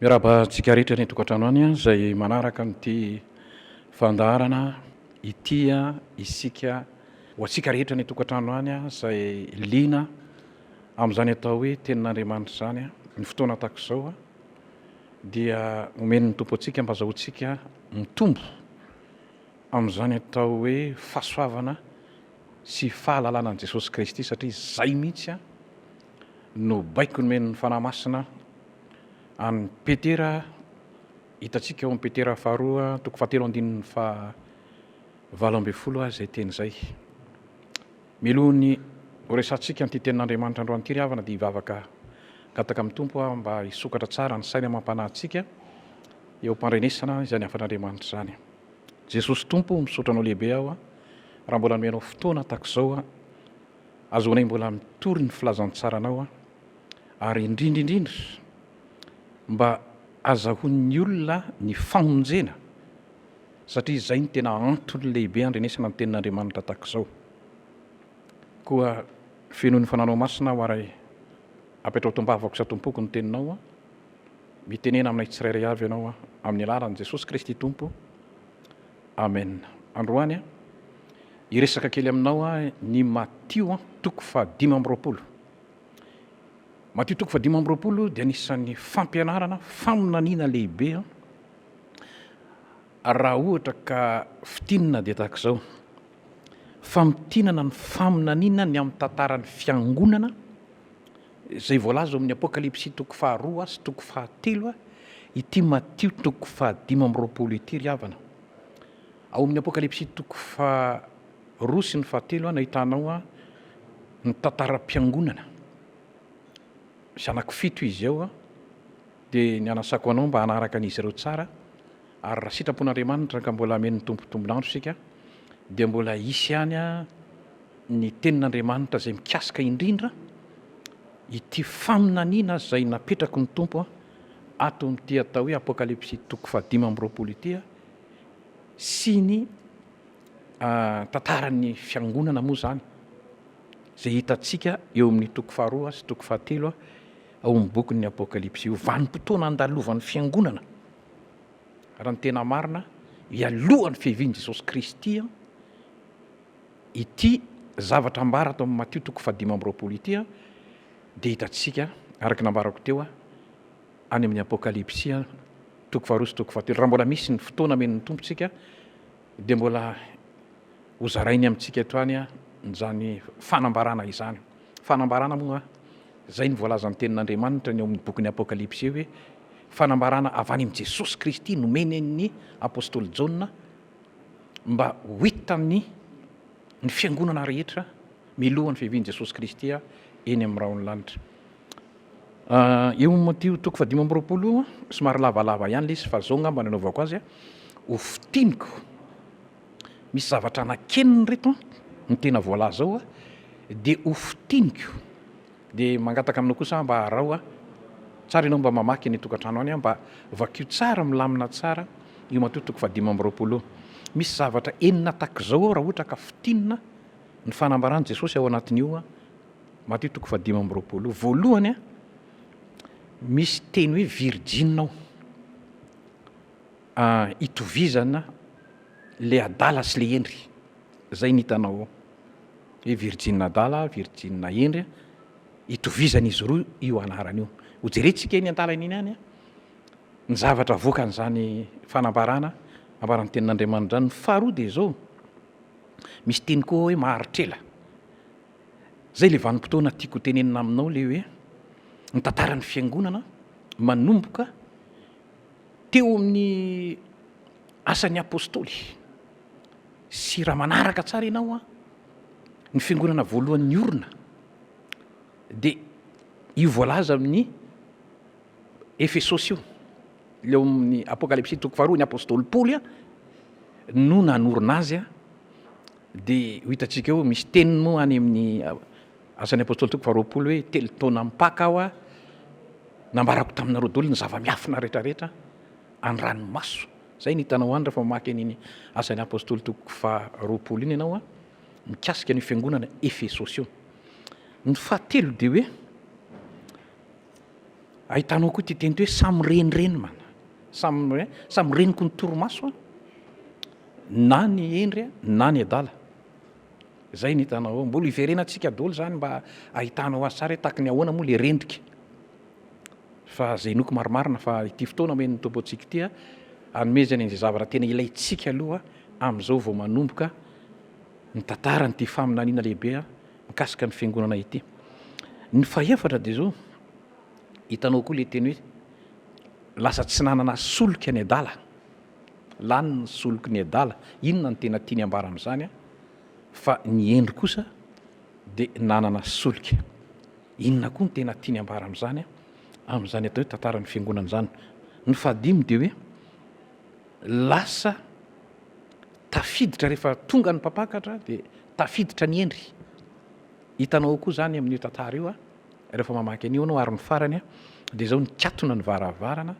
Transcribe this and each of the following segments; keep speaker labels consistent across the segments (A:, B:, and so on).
A: Miarahaba antsika rehetra any an-tokantrano any izay manaraka an'ity fandaharana ity isika. Ho antsika rehetra any an-tokantrano any izay liana amin'izany atao hoe tenin'Andriamanitra izany ny fotoana tahaka izao dia omen'ny Tompo antsika mba azahoantsika mitombo amin'izany atao hoe fahasoavana sy fahalalana an'i Jesosy Kristy satria izay mihitsy no baiko nomen'ny Fanahy Masina an'i Petera, hitantsika ao amin'ny Petera faharoa toko fahatelo andininy faha valo ambin'ny folo azy izay teny izay. Melohan'ny ho resahantsika an'ity tenin'Andriamanitra androany ity ry havana dia hivavaka gataka amin'ny Tompo aho mba hisokatra tsara ny sainy amam-panahy antsika eo am-pandrenesana izany hafan'Andriamanitra izany. Jesosy Tompo o, misaotra Anao lehibe aho raha mbola nomena Anao fotoana tahaka izao. Azaonay mbola mitory ny filazantsaranao an! Ary indrindra indrindra mba azahoan'ny olona ny famonjena satria izay no tena antony lehibe handrenesana ny tenin'Andriamanitra tahak'izao. Koa fenoy ny Fananao Masina aho ary apetrao tom-bavako sa tom-poko ny teninao an! Mitenena aminay tsirairay avy Ianao an! Amin'ny alalan'i Jesosy Kristy Tompo. Amen androany an! hiresaka kely aminao aho ny Matio an toko faha dimy amby roapolo. Matio toko faha dimy amby roapolo dia anisan'ny fampianarana faminaniana lehibe an! raha ohatra ka fitinina dia tahaka izao famitinana ny faminaniana ny amin'ny tantaran'ny fiangonana Izay voalaza ao amin'ny Apokalypsy toko faharoa sy toko fahatelo, ity Matio toko fahadimy amby roapolo ity ry havana. Ao amin'ny Apokalypsy toko faharoa sy ny fahatelo no ahitanao ny tantaram-piangonana. Zanako fito izy ao dia ny anasako anao mba hanaraka an'izy ireo tsara ary raha sitrapon'Andriamanitra ka mbola hamen'ny Tompo tombon'andro isika dia mbola hisy ihany ny tenin'Andriamanitra izay mikasika indrindra ity faminaniana izay napetraky ny Tompo ato amin'ity atao hoe Apokalypsy toko fahadimy amby roapolo ity sy ny tantaran'ny fiangonana moa izany izay hitantsika eo amin'ny toko faharoa sy toko fahatelo ao amin'ny bokin'ny Apokalypsy io. Vanim-potoana andalovan'ny fiangonana raha ny tena marina, hialohan'ny fiavian'i Jesosy Kristy. Ity zavatra ambara tao amin'ny Matio toko fahadimy amby roapolo ity dia hitantsika, araka ny nambarako teo, any amin'ny Apokalypsy toko faharoa sy toko fahatelo. Raha mbola misy ny fotoana omen'ny Tompo tsika dia mbola hozarainy amintsika eto any izany fanambarana izany. Fanambarana moa, izay no voalazan'ny Tenin'Andriamanitra ny ao amin'ny bokin'ny Apokalypsy hoe fanambarana avy any amin'i Jesosy Kristy nomeny an'ny Apostoly Jaona, mba ho hitan'ny ny fiangonana rehetra milohan'ny fiavian'i Jesosy Kristy eny amin'ny rahon'ny lanitra. Eo amin'ny Matio toko fahadimy amby roapolo, somary lavalava ihany ilay izy fa izao ngamba no anaovako azy, ho fintiniko. Misy zavatra nakenina ireto ny tena voalaza ao dia ho fintiniko. Dia mangataka aminao kosa aho mba araho a! Tsara ianao mba mamaky any an-tokantrano any a! Mba vakio tsara milamina tsara io matoa toko fahadimy amby roapolo io. Misy zavatra enina tahak'izao ao raha ohatra ka fintinina ny fanambaran'i Jesosy ao anatin'io a! Matio toko fahadimy amby roapolo io. Voalohany a! Misy teny hoe virjina ao. Itovizana le adala sy le hendry. Zay ny hitanao ao. Hoe virjiny adala, virjiny hendry a. Itovizan'izy roa io anarana io. Ho jerentsika eny an-dalana eny ihany ny zavatra avoakan'izany fanambarana ambaran'ny Tenin'Andriamanitra izany. Ny faharoa dia izao, misy teny koa hoe maharitr'ela. Zay ilay vanim-potoana tiako hotenenina aminao ilay hoe ny tantaran'ny Fiangonana manomboka teo amin'ny asan'ny Apôstôly. sy raha manaraka tsara ianao an, ny fiangonana voalohany niorina dia io voalaza amin'ny Efesosy io, ilay ao amin'ny Apokalypsy toko faharoa, ny apostoly Paoly no nanorina azy an, dia ho hitantsika eo misy teniny moa any amin'ny asan'ny apostoly toko faharoapolo hoe telo taona mipaka aho an, nambarako taminareo daholo ny zava-miafina rehetra rehetra an, ny ranomaso. Izay no hitanao any rehefa mamaky an'iny Asan'ny Apostoly toko faha roapolo iny ianao mikasika an'io fiangonana Efesosy io. Ny fahatelo dia hoe ahitanao koa ity teny ity hoe samy renireny man, samy samy reniko ny torimaso na ny hendry na ny adala. Izay no hitanao ao. Mbola hiverenantsika daholo izany mba ahitanao azy tsara hoe tahaky ny ahoana moa ilay rendrika. Fa izay inoako marimarina fa ity fotoana omen'ny Tompo antsika ity, hanomezany an'izay zavatra tena ilaintsika aloha amin'izao vao manomboka ny tantaran'ity faminaniana lehibe mikasika ny Fiangonana ity. Ny fahefatra dia izao, hitanao koa ilay teny hoe lasa tsy nanana solika ny adala, lany ny soliky ny adala. Inona no tena tiany ambara amin'izany? Fa ny hendry kosa dia nanana solika. Inona koa no tena tiany ambara amin'izany, amin'izany atao hoe tantaran'ny fiangonana izany? Ny fahadimy dia hoe lasa tafiditra rehefa tonga ny mpampakatra dia tafiditra ny hendry. Hitanao ao koa izany amin'io tantara io rehefa mamaky an'io ianao ary ny farany dia izao nikatona ny varavarana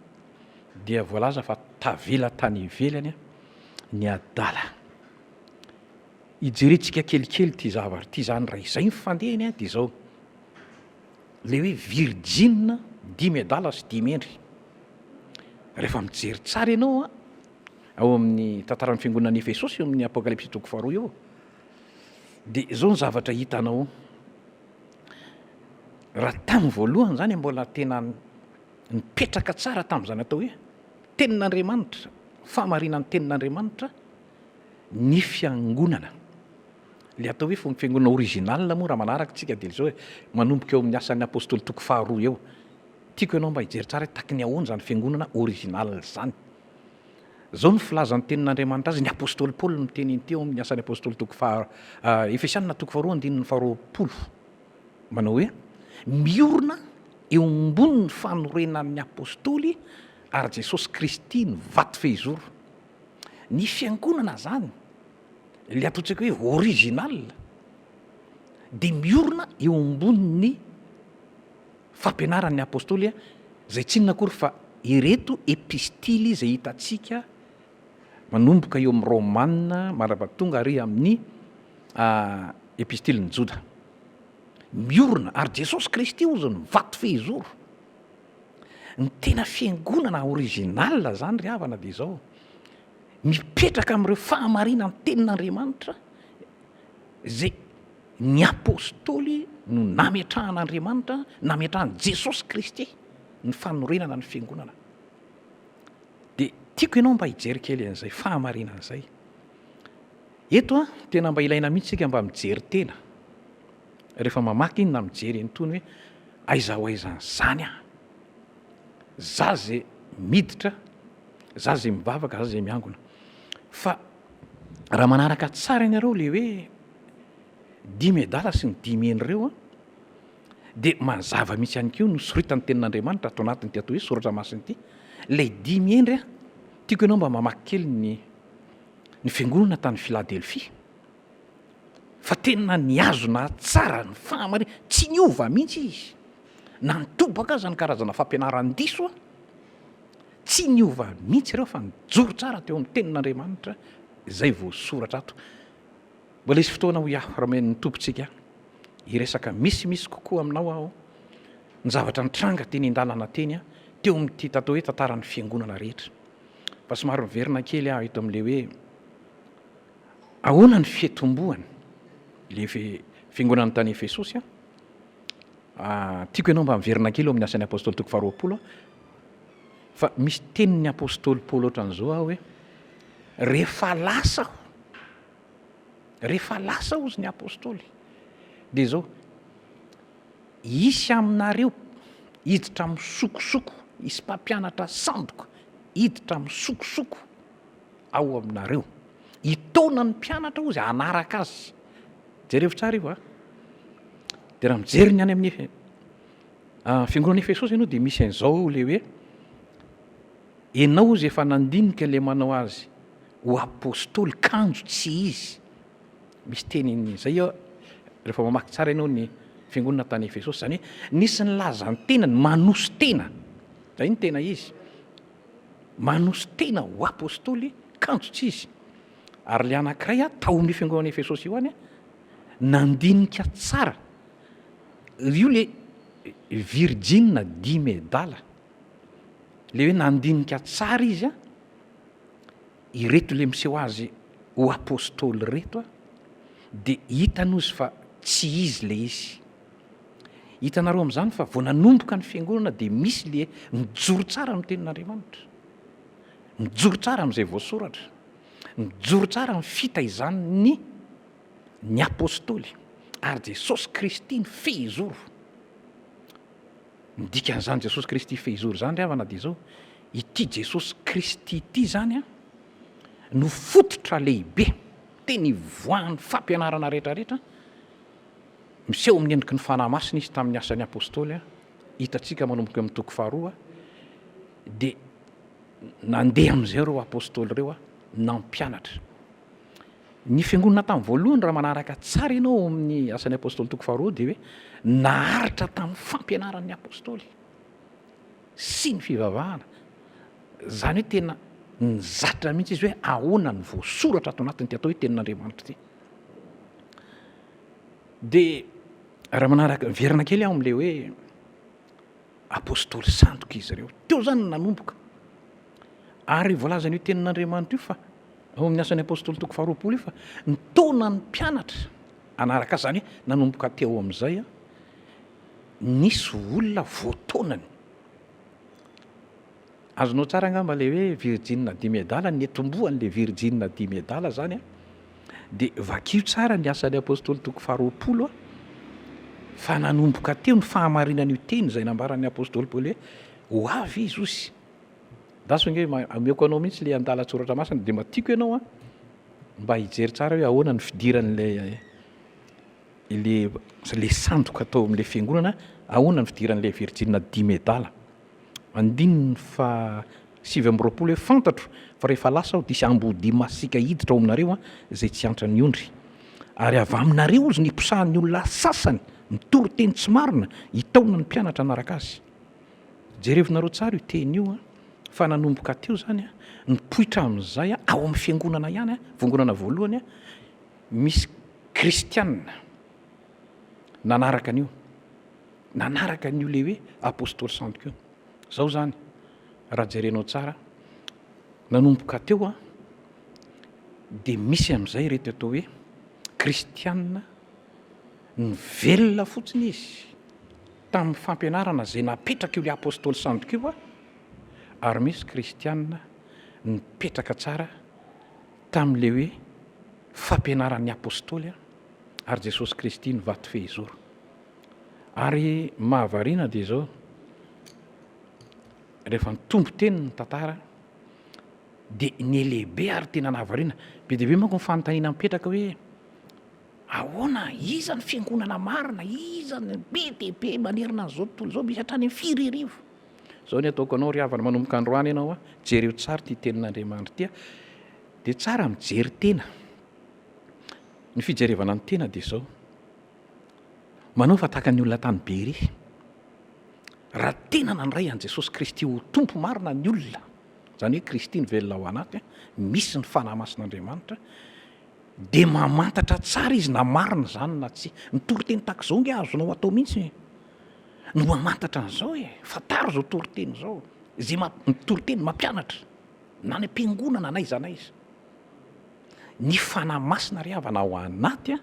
A: dia voalaza fa tavela tany ivelany ny adala. Hijerentsika kelikely ity zavatra ity izany raha izay ny fandehany dia izao, ilay hoe virjina dimy adala sy dimy hendry. Rehefa mijery tsara ianao a, ao amin'ny tantaran'ny fiangonan'i Efesosy eo amin'ny Apokalypsy toko faharoa eo, dia izao ny zavatra hitanao, raha tamin'ny voalohany izany mbola tena nipetraka tsara tamin'izany atao hoe tenin'Andriamanitra, fahamarinan'ny tenin'Andriamanitra ny fiangonana. Ilay atao hoe fomba fiangonana original moa raha manaraka isika dia izao e, manomboka eo amin'ny asan'ny Apostoly toko faharoa eo. Tiako ianao mba hijery tsara hoe tahaky ny ahoana izany fiangonana original izany. Izao no filazan'ny tenin'Andriamanitra azy, ny Apostoly Paoly no miteny an'ity ao amin'ny asan'ny Apostoly toko faha, Efesiana toko faharoa andininy faharoapolo. Manao hoe, miorina eo ambonin'ny fanorenan'ny Apostoly ary Jesosy Kristy ny vato fehizoro. Ny fiangonana zany, le ataontsika hoe original, de miorina eo ambonin'ny fampianaran'ny apostoly, zay tsy inona akory fa ireto epistily zay hitantsika manomboka eo amin'ny romana mandrapa tonga ary amin'ny epistilin'ny joda. Miorina, ary Jesosy Kristy hozy ny vato fehizoro. Ny tena fiangonana original zany ry havana dia izao, mipetraka amin'ireo fahamarinan'ny tenin'Andriamanitra izay ny apostoly no nametrahan'Andriamanitra, nametrahan'i Jesosy Kristy ny fanorenana ny fiangonana. Dia tiako ianao mba hijery kely an'izay fahamarinana izay. Eto tena mba ilaina mihitsy isika mba mijery tena. rehefa mamaky na mijery an'itony hoe aiza ho aiza an'izany aho? Za zay miditra, za zay mivavaka, za zay miangona. Fa raha manaraka tsara ianareo le hoe dimy adala sy ny dimy heny ireo an, dia mazava mihitsy ihany koa no soritan'ny tenin'Andriamanitra ato anatin'ity atao hoe soratra masina ity. Ilay dimy hendry an, tiako ianao mba mamaky kely ny ny fiangonana tany Philadelphie. fa tena nihazona tsara ny fahamarinana, tsy niova mihitsy izy, na nitobaka aza ny karazana fampianarany diso, tsy niova mihitsy ireo fa nijoro tsara teo amin'ny tenin'Andriamanitra izay voasoratra ato. Mbola hisy fotoana hoy aho raha omen'ny Tompontsika hiresaka misimisy kokoa aminao aho ny zavatra nitranga teny an-dalana teny teo amin'ity tatao hoe tantaran'ny fiangonana rehetra, fa somary miverina kely aho eto amin'ilay hoe. Ahoana ny fiatombohan le fiangonana tany Efesosy an? Tiako ianao mba miverina kely eo amin'ny Asan'ny Apostoly toko faharoapolo an, fa misy tenin'ny Apostoly Paoly ohatran'izao an hoe, rehefa lasa aho, rehefa lasa hozy ny Apostoly dia izao, hisy aminareo hiditra misokosoko, hisy mpampianatra sandoka hiditra misokosoko ao aminareo. Hitaona ny mpianatra hozy hanaraka azy. Jerevo tsara io a. Dia raha mijery ny any amin'ny fiangonan'i Efesosy ianao dia misy an'izao ilay hoe ianao hozy efa nandinika ilay manao azy ho apostoly kanjo tsy izy. Misy teniny izay eo rehefa mamaky tsara ianao ny fiangonana tany Efesosy. Izany hoe nisy ny lazan-tenany, manoso-tena. Izay ny tena izy. Manoso-tena ho apostoly kanjo-tsy izy. Ary ilay anankiray tao amin'io fiangonan'i Efesosy io ihany nandinika tsara, io ilay virjina dimy adala, ilay hoe nandinika tsara izy, Ireto le miseho azy ho apostoly ireto a, de hitany ozy fa tsy izy le izy. Hitanareo amin'izany fa vao nanomboka ny fiangonana dia misy le mijoro tsara amin'ny tenin'Andriamanitra, mijoro tsara amin'izay voasoratra, mijoro tsara amin'ny fitaizan'ny ny apostoly ary Jesosy Kristy ny fehizoro. Ny dikan'izany Jesosy Kristy fehizoro izany ry havana dia izao, ity Jesosy Kristy ity izany an, no fototra lehibe, tena ivoahan'ny fampianarana rehetrarehetra, miseho amin'ny endriky ny Fanahy Masina Izy tamin'ny asan'ny Apostoly an, hitantsika manomboka eo amin'ny toko faharoa, dia nandeha amin'izay ireo Apostoly ireo an, nampianatra. Ny fiangonana tamin'ny voalohany raha manaraka tsara ianao ao amin'ny Asan'ny Apostoly toko faharoa dia hoe naharitra tamin'ny fampianaran'ny Apostoly sy ny fivavahana. Izany hoe tena nizatra mihitsy izy hoe ahoana ny voasoratra ato anatin'ity atao hoe tenin'Andriamanitra ity. Dia raha manaraka miverina kely aho amin'ilay hoe Apostoly sandoka izy ireo. Teo izany no nanomboka. Ary voalazan'io Tenin'Andriamanitra io fa, ao amin'ny Asan'ny Apostoly toko faharoapolo io fa, nitaona ny mpianatra hanaraka Azy. Izany hoe, nanomboka teo amin'izay, nisy olona voataonany. Azonao tsara angamba ilay hoe virjinina dimy adala, ny tombohan'ilay virjinina dimy adala izany an, dia vakio tsara ny Asan'ny Apostoly toko faharoapolo an, fa nanomboka teo ny fahamarinan'io teny izay nambaran'ny Apostoly Paoly hoe ho avy Izy osy. Andraso ange, omeko anao mihitsy ilay andalan-tsoratra masina, dia mba tiako ianao an, mba hijery tsara hoe ahoana ny fidiran'ilay ilay ilay sandoka tao amin'ilay fiangonana, ahoana ny fidiran'ilay virjinina dimy adala. Andininy faha sivy amby roapolo hoe, Fantatro fa rehefa lasa aho dia hisy amboadia masiaka hiditra ao aminareo izay tsy hiantra ny ondry. Ary avy aminareo izy no hiposahan'ny olona sasany mitory teny tsy marina hitaona ny mpianatra hanaraka azy. Jerevinareo tsara io teny io fa nanomboka teo izany, nipoitra amin'izay ao amin'ny fiangonana ihany, vongonana voalohany, misy kristiana nanaraka an'io. nanaraka an'io le hoe apostoly santo io. Zao zany raha jerenao tsara nanomboka teo a de misy am'izay reto atao hoe kristianina ny velona fotsiny izy tamin'ny fampianarana zay napetraka io le apostoly santo io a ary misy kristianina nipetraka tsara tamin'le hoe fampianaran'ny apostoly a ary jesosy kristy ny vato fehizoro Ary mahavariana dia izao, rehefa nitombo teny ny tantara dia niha-lehibe ary tena nahavariana. Be dia be manko ny fanontaniana mipetraka hoe, ahoana, iza ny fiangonana marina, iza no be dia be manerana an'izao tontolo izao, misy hatrany amin'ny firy arivo? Izao ny ataoko anao ry havana, manomboka androany ianao a, jereo tsara ity tenin'Andriamanitra ity a, dia tsara mijery tena. Ny fijerevana ny tena dia izao. Manao fa tahaka ny olona tany Beria. Raha tena nandray an'i Jesosy Kristy ho Tompo marina ny olona, izany hoe Kristy no velona ao anaty, misy ny Fanahy Masin'Andriamanitra, dia mamantatra tsara izy na marina izany na tsia. Ny toriteny tahaka izao ange azonao atao mihitsy no mamantatra an'izao e! Fantaro izao toriteny izao, izay ma- ny toriteny mampianatra, na any am-piangonana na aiza na aiza. Ny Fanahy Masina ry havana ao anaty,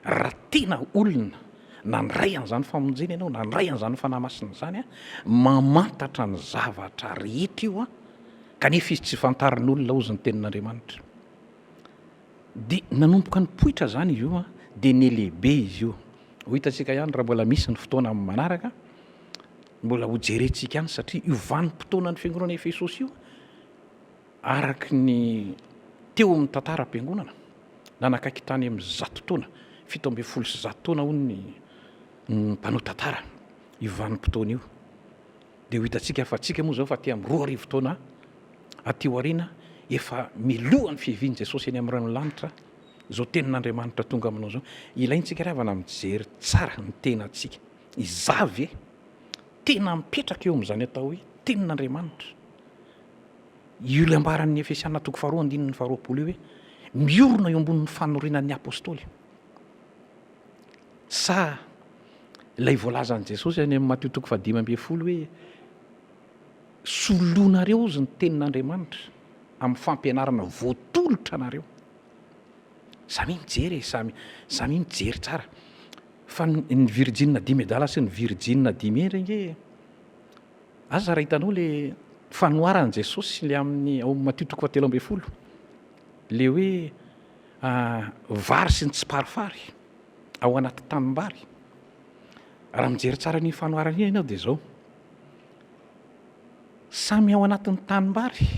A: Raha tena olona nandray an'izany famonjena ianao, nandray an'izany Fanahy Masina izany, mamantatra ny zavatra rehetra io kanefa izy tsy fantarin'olona hozy ny tenin'Andriamanitra. Dia nanomboka nipoitra izany izy io dia nelehibe izy io. Ho hitantsika ihany raha mbola misy ny fotoana amin'ny manaraka, mbola hojerentsika ihany satria io vanim-potoanan'ny fiangonana Efesosy io, Araka ny teo amin'ny tantaram-piangonana, nanakaiky tany amin'ny zato taona, fito ambin'ny folo sy zato taona hono ny mpanao tantara io vanim-potoana io. Dia ho hitantsika fa antsika moa izao fa aty amin'ny roa arivo taona aty aoriana efa miloha ny fiavian'i Jesosy eny amin'ny lanitra izao tenin'Andriamanitra tonga aminao izao. Ilaintsika ry havana mijery tsara ny tenantsika. Izaho ve tena mipetraka eo amin'izany atao hoe tenin'Andriamanitra? io ilay ambaran'ny Efesiana toko faharoa andininy faharoapolo io hoe miorina eo ambonin'ny fanorinan'ny apôstôly. Sa ilay voalazan'i Jesosy any amin'ny Matio toko fahadimy ambin'ny folo hoe solonareo ozy ny tenin'Andriamanitra amin'ny fampianarana voatolotra anareo. Samy mijery e, samy samy mijery tsara. Fa ny virjinina dimy medala sy ny virjinina dimy endry ange Aza raha hitanao le fanoharan'i Jesosy le amin'ny ao Matio toko fahatelo ambin'ny folo, le hoe vary sy ny tsiparifary ao anaty tanimbary, raha mijery tsara an'iny fanoharana iny ianao dia zao, samy ao anatin'ny tanimbary,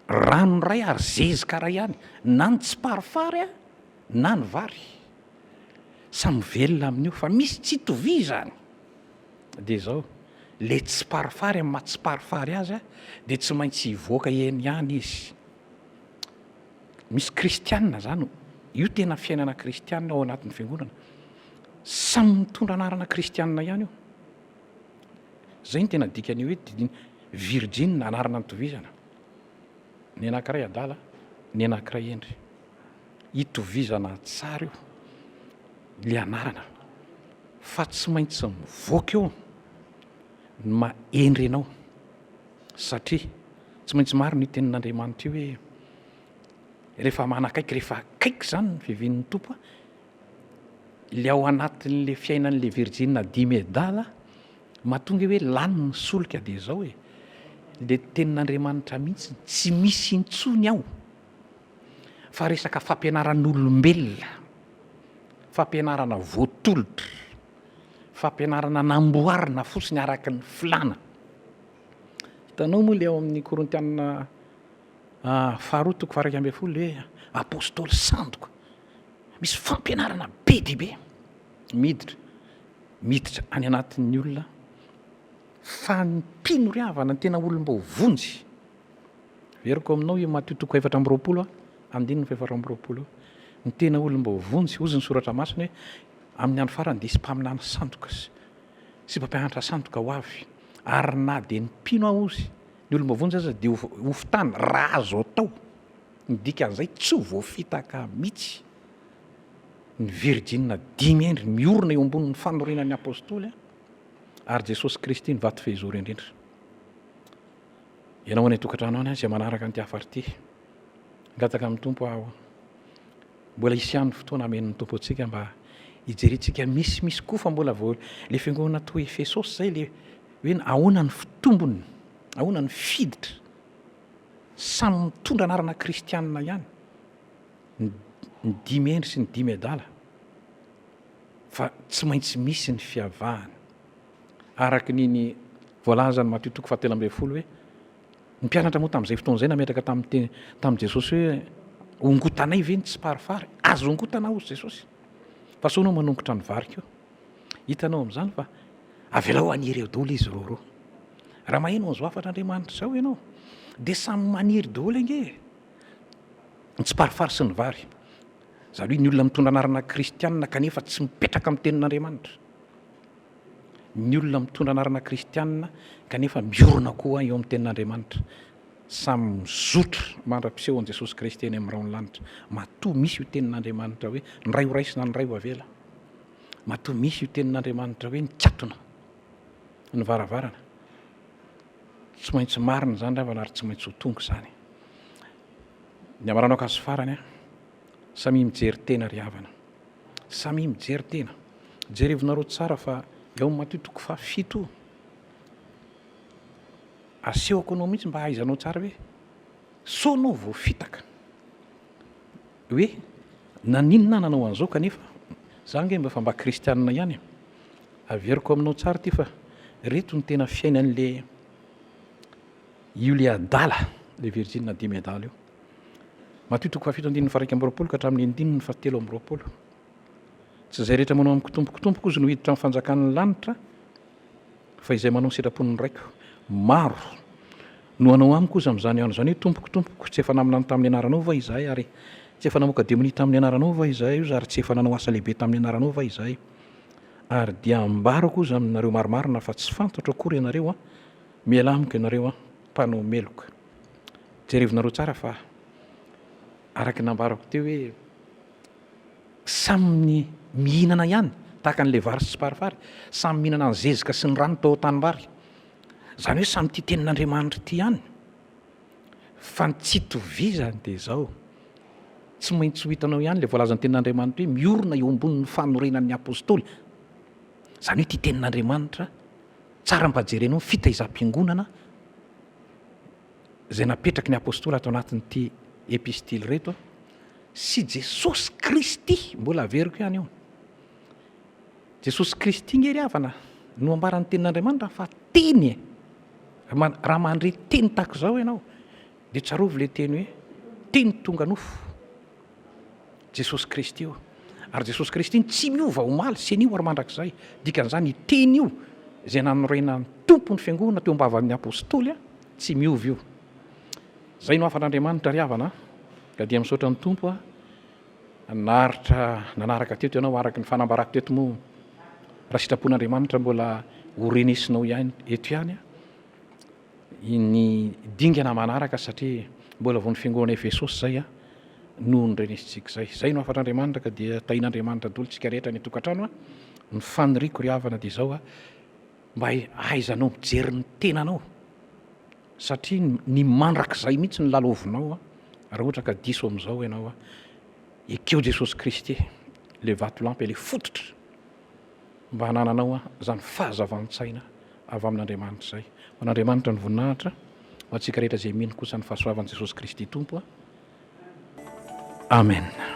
A: rano iray ary zezika iray ihany na ny tsiparifary na ny vary, samy velona amin'io fa misy tsy itovizany. dia izao, ilay tsiparifary amin'ny maha-tsiparifary azy dia tsy maintsy hivoaka eny ihany izy. Misy kristiana izany, io tena fiainana kristiana ao anatin'ny fiangonana. Samy mitondra anarana kristiana ihany io. Izay no tena dikan'ny hoe didina. Virjiny, anarana nitovizana. Ny anankiray adala, ny anankiray hendry. itovizana tsara io le anarana fa tsy maintsy mivoaka eo ny mahendry anao satria tsy maintsy marina io tenin'Andriamanitra io hoe rehefa manakaiky rehefa akaiky izany ny fiavian'ny Tompo le ao anatin'le fiainan'le virjina dimy adala mahatonga hoe lany ny solika de zao e le tenin'Andriamanitra mihitsy tsy misy intsony ao fa resaka fampianaran'olombelona, fampianarana voatolotra, fampianarana namboarina fotsiny araka ny filàna. Hitanao moa ilay ao amin'ny Korintianina ah, faharoa toko faha iraika ambin'ny folo hoe apôstôly sandoka. Misy fampianarana be dia be miditra miditra any anatin'ny olona fa ny mpino ry havana ny tena olom-baovonjy Averiko aminao i Matio toko efatra amby roapolo andininy fahefatra amby roapolo io. Ny tena olona mba ho vonjy, hozy ny Soratra Masina hoe, Amin'ny andro farany dia hisy mpaminany sandoka sy sy mpampianatra sandoka ho avy, ary na dia ny mpino aho, hozy ny olona mba ho vonjy, aza dia ho ho fitany raha azo atao. Ny dikan'izay, tsy ho voafitaka mihitsy ny virjinina dimy hendry miorina eo ambonin'ny fanoriana ny Apostoly ary Jesosy Kristy ny vato fehizoro indrindra. Ianao any an-tokantrano any izay manaraka an'ity hafatra ity. Hangataka amin'ny Tompo aho. Mbola hisy ihany ny fotoana amen'ny Tompo antsika mba hijerentsika misimisy koa fa mbola vao ilay fiangonana toa Efesosy izay ilay hoe ahoana ny fitombony, ahoana ny fiditra. Samy mitondra anarana kristianina ihany ny dimy hendry sy ny dimy adala fa tsy maintsy misy ny fiavahany. Araka ny ny voalazan'i Matio toko fahatelo ambin'ny folo hoe ny mpianatra moa tamin'izay fotoana izay nametraka tamin'ny tamin'i Jesosy hoe hongotanay ve ny tsiparifary? Azo hongotana hozy Jesosy fa sao ianao manongotra ny vary koa. Hitanao amin'izany fa avelao haniry eo daholo izy roa roa. Raha maheno an'izao hafatr'Andriamanitra izao ianao dia samy maniry daholo ange ny tsiparifary sy ny vary. Zalohy ny olona mitondra anarana kristianina kanefa tsy mipetraka amin'ny tenin'Andriamanitra. ny olona mitondra anarana kristianina kanefa miorina koa eo amin'ny tenin'Andriamanitra. Samy mizotra mandra-piseho an'i Jesosy Kristy eny amin'ny rahon'ny lanitra. Matoa misy io tenin'Andriamanitra hoe ny ray ho raisina ny ray ho avela. Matoa misy io tenin'Andriamanitra hoe nikatona ny varavarana. Tsy maintsy marina izany ravana ary tsy maintsy ho tonga izany. Ny hamaranao akanjo farany an. Samia mijery tena ry havana. Samia mijery tena. Jerevinareo tsara fa eo amin'ny Matio toko faha fito asehoko anao mihitsy mba hahaizanao tsara hoe sao anao voafitaka hoe naninona aho nanao an'izao kanefa za ange mba efa mba kristianina ihany e. Averiko aminao tsara ity fa reto ny tena fiainan'le io le adala le virjina dimy adala io. Matio toko fahafito andininy faha-iraika amby roapolo ka hatramin'ny andininy fahatelo amby roapolo. Tsy izay rehetra manao amiko Tompoko, Tompoko ozy no hiditra amin'ny fanjakan'ny lanitra, fa izay manao ny sitrapon'ny Raiko. Maro no hanao amiko ozy amin'izany andro izany hoe, Tompoko, Tompoko, tsy efa naminany tamin'ny anaranao va izahay ary tsy efa namoaka demonia tamin'ny anaranao va izahay ozy ary tsy efa nanao asa lehibe tamin'ny anaranao va izahay? Ary dia hambarako ozy aminareo marimarina fa tsy fantatro akory ianareo an! Mialà amiko ianareo an! Mpanao meloka. Jerevinareo tsara fa araka ny nambarako teo hoe samy mihinana ihany tahaka an'ilay vary sy tsiparifary, samy mihinana ny zezika sy ny rano tao an-tanimbary. Izany hoe samy tia tenin'Andriamanitra ity ihany fa ny tsy itovizany dia izao, tsy maintsy ho hitanao ihany ilay voalazan'ny tenin'Andriamanitra hoe miorina eo ambonin'ny fanorenan'ny apostoly. Izany hoe tia tenin'Andriamanitra, tsara mba jerenao ny fitaizam-piangonana, izay napetraky ny Apostoly ato anatin'ity Epistily ireto sy Jesosy Kristy, mbola averiko ihany io, Jesosy Kristy nge ry havana no ambaran'ny tenin'Andriamanitra fa teny e! raha mandre teny tahaka izao ianao dia tsarovy ilay teny hoe teny tonga nofo. Jesosy Kristy io. Ary Jesosy Kristy iny tsy miova omaly sy anio ary mandrakizay. Dikan'izany io teny io izay nanorenan'ny Tompo ny Fiangonana teo am-bavan'ny Apostoly tsy miova io. Izay no hafan'Andriamanitra ry havana ka dia misaotra ny Tompo naharitra nanaraka teto ianao araka ny fanambarako teto moa raha sitrapon'Andriamanitra mbola ho renesinao ihany eto ihany ny dingana manaraka satria mbola vao ny fiangonana Efesosy izay noho ny renesintsika izay. Izay no hafatr'Andriamanitra ka dia tahin'Andriamanitra dolo tsika rehetra any an-tokantrano a! Ny faniriako ry havana dia izao a! Mba ahaizanao mijery ny tenanao satria ny mandrakizay mihitsy no lalaovinao a! Raha ohatra ka diso amin'izao ianao a! Ekeo Jesosy Kristy ilay vatolampy ilay fototra. mba hanananao izany fahazavan-tsaina avy amin'Andriamanitra izay. Ho an'Andriamanitra ny voninahitra, ho antsika rehetra izay mino kosa ny fahasoavan'i Jesosy Kristy Tompo. Amena.